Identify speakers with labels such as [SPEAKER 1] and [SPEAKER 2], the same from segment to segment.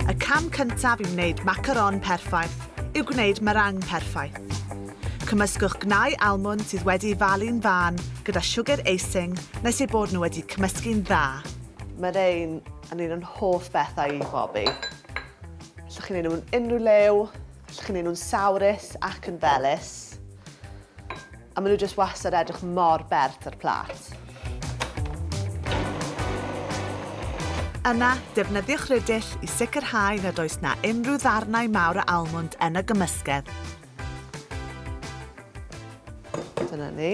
[SPEAKER 1] Y cam cyntaf i wneud macaron perffaith yw gwneud meringue perffaith. Cymysgwch gnau almwnd sydd wedi'i falu'n fân gyda siwgr icing nes eu bod nhw wedi cymysgu'n dda. Meringue yn un o'n hoff bethau i bobi. Allwch chi wneud nhw mewn unrhyw liw, allwch chi wneud nhw'n sawrus ac yn felys. A maen nhw jyst wastad edrych mor bert ar plat. Yna, defnyddiwch rydyll i sicrhau nad oes na unrhyw ddarnau mawr o almwnd yn y gymysgedd. Dyna ni.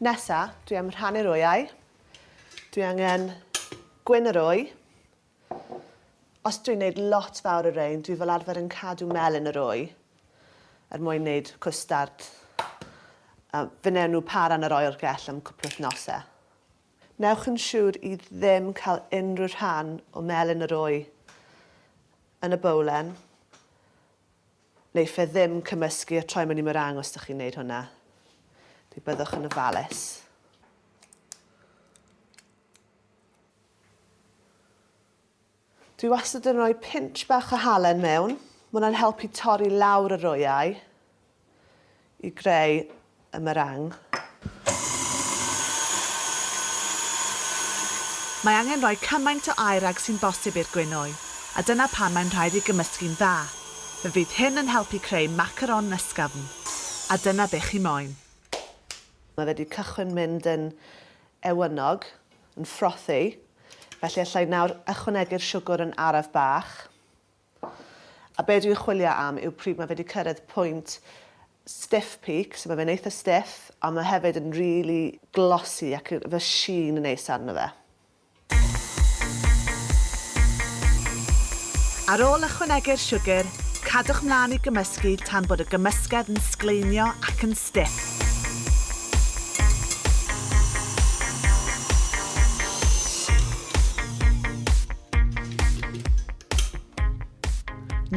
[SPEAKER 1] Nesa, dwi am rhannu'r wyau. Dwi angen gwyn yr wy. Os dwi'n neud lot fawr o rein, dwi fel arfer yn cadw melyn yr wy er mwyn neud cwstard. A fe newn nhw para yn yr oergell am cwpl wythnose. Newch yn siŵr i ddim cael unrhyw rhan o melyn yr wy yn y bowlen, neu fe ddim cymysgu a troi mewn i meringue os dych chi'n neud hwnna. Fe byddwch yn ofalus. Dwi wastad yn rhoi pinch bach o halen mewn. Mae hwnna'n helpu torri lawr yr oeau i greu y meringue. Mae angen rhoi cymaint o aer ag sy'n bosib i'r gwinoe, a dyna pam mae'n rhaid ei gymysgu'n dda. Fe fydd hyn yn helpu creu macaron ysgafn. A dyna be chi moyn. Mae fe 'di cychwyn mynd yn ewynog. yn ffrothi, felly allai nawr ychwanegu'r siwgr yn araf bach. A be dwi'n chwilio am yw pryd mae fe wedi cyrraedd pwynt stiff peak, so mae fe'n eitha stiff, ond mae hefyd yn rili glossy ac efo sheen neis arno fe. Ar ôl ychwanegu'r siwgr, cadwch mlaen i gymysgu tan bod y gymysgedd yn sgleinio ac yn Dec.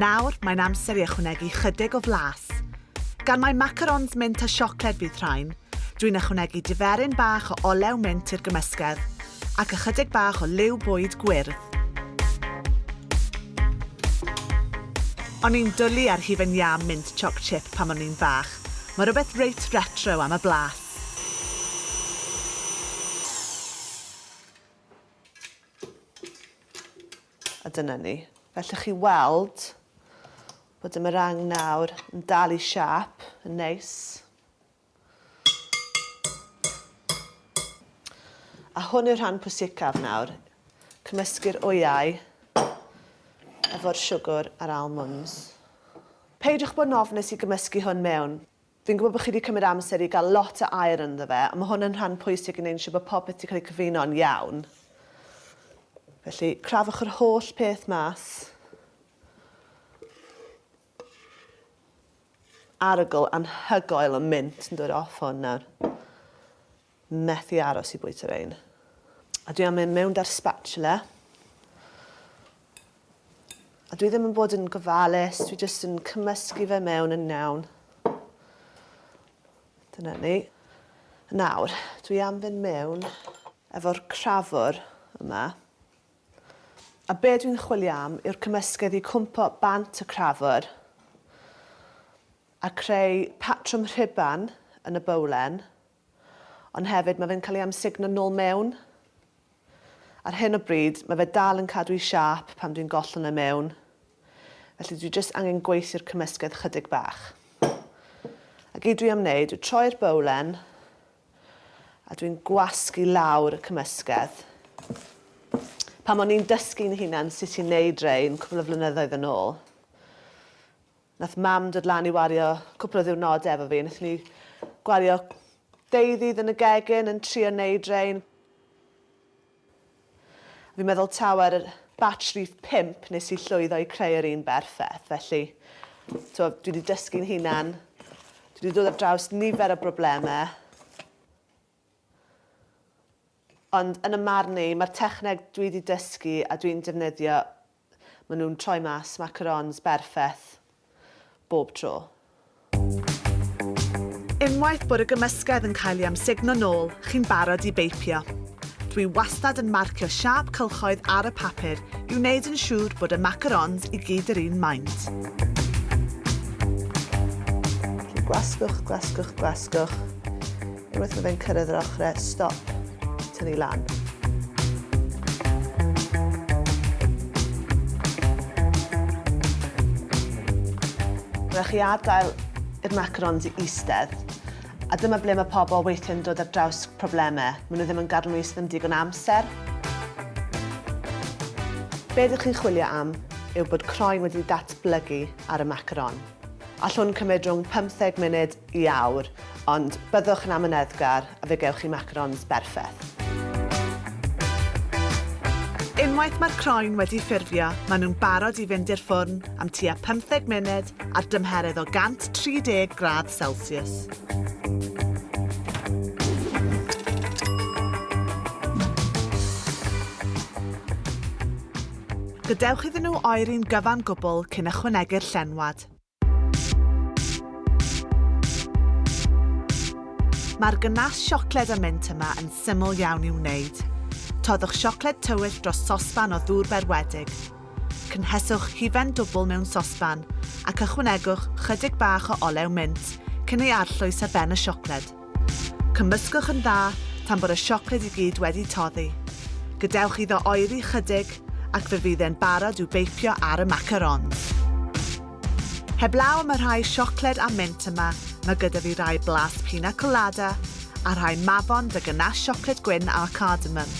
[SPEAKER 1] Nawr mae'n amser i ychwanegu chydig o flas. Gan mai macarons mint a siocled fydd rhain, dwi'n ychwanegu diferyn bach o olew mint i'r gymysgedd ac ychydig bach o liw bwyd gwyrdd. O'n i'n dwli ar hufen iâ mint choc chip pan o'n i'n fach. Mae rhywbeth reit retro am y blas. A dyna ni. Fe allwch chi weld bod y meringue nawr yn dal i siâp yn neis. A hwn yw'r rhan pwysicaf nawr. Cymysgu'r wyau efo'r siwgr a'r almonds. Peidiwch bod yn ofnus i gymysgu hwn mewn. Fi'n gwybod bod chi 'di cymryd amser i gael lot o air ynddo fe, ond mae hwn yn rhan pwysig i wneud siŵr bod popeth 'di cael ei cyfuno'n iawn. Felly, crafwch yr holl peth mas. Arogl anhygoel o mint yn dod off hwn nawr. methu aros i bwyta rhein. A dwi am mynd mewn da'r spatula. A dwi ddim yn bod yn gofalus, dwi jyst yn cymysgu fe mewn yn nawn. Dyna ni. Nawr, dwi am fynd mewn efo'r crafwr yma. A be dwi'n chwilio am yw'r cymysgedd i cwmpo bant y crafwr a creu patrwm rhuban yn y bowlen Ond hefyd, mae fe'n cael ei amsugno nôl mewn. Ar hyn o bryd, mae fe dal yn cadw ei siâp pan dwi'n gollwng e mewn. Felly dwi jyst angen gweithio'r cymysgedd chydig bach. A gyd dwi am wneud yw troi'r bowlen a dwi'n gwasgu lawr y cymysgedd. Pan o'n i'n dysgu'n hunan sut i'n neud rein cwpl o flynyddoedd yn ôl, Nath mam dod lan i wario cwpl o ddiwrnode efo fi. Nathon ni gwario deu ddydd yn y gegin yn trio neud rein. A fi'n meddwl taw ar yr batch rhif pump nes i llwyddo i creu yr un berffeth. Felly, t'wo', dwi 'di dysgu'n hunan. Dwi 'di dod ar draws nifer o brobleme. Ond yn 'y marn i, ma'r techneg dwi 'di dysgu a dwi'n defnyddio Maen nhw'n troi mas macarons berffeth bob tro. Unwaith bod y gymysgedd yn cael ei amsugno nôl, chi'n barod i beipio. Dwi wastad yn marcio siâp cylchoedd ar y papur i wneud yn siŵr bod y macarons i gyd yr un maint. Gwasgwch, gwasgwch, gwasgwch. Unwaith mae fe'n cyrraedd yr ochrau, stop, tynnu lan. Rhaid chi adael i'r macarons i eistedd. A dyma ble mae pobl weithiau'n dod ar draws problemau. Maen nhw ddim yn gadw nhw eistedd am digon amser. Be ydych chi'n chwilio am yw bod croen wedi datblygu ar y macaron. Allwn cymryd rhwng pymtheg munud i awr, ond byddwch yn amyneddgar a fe gewch chi macarons berffeth. Unwaith mae'r croen wedi ffurfio, maen nhw'n barod i fynd i'r ffwrn am tua pymtheg munud ar dymheredd o 130 gradd celsiws. Gadewch iddyn nhw oeri'n gyfan gwbl cyn ychwanegu'r llenwad. Mae'r gynnas siocled a mint yma yn syml iawn i'w wneud. Toddwch siocled tywyll dros sosban o ddŵr berwedig. Cynheswch hufen dwbl mewn sosban ac ychwanegwch chydig bach o olew mint cyn ei arllwys ar ben y siocled. Cymysgwch yn dda tan bod y siocled i gyd wedi toddi. Gadewch iddo oeri chydig ac fe fydd e'n barod i'w beipio ar y macarons. Heblaw am y rhai siocled a mint yma, mae gyda fi rhai blas pina colada a rhai mafon dy ganache siocled gwyn â cardamom.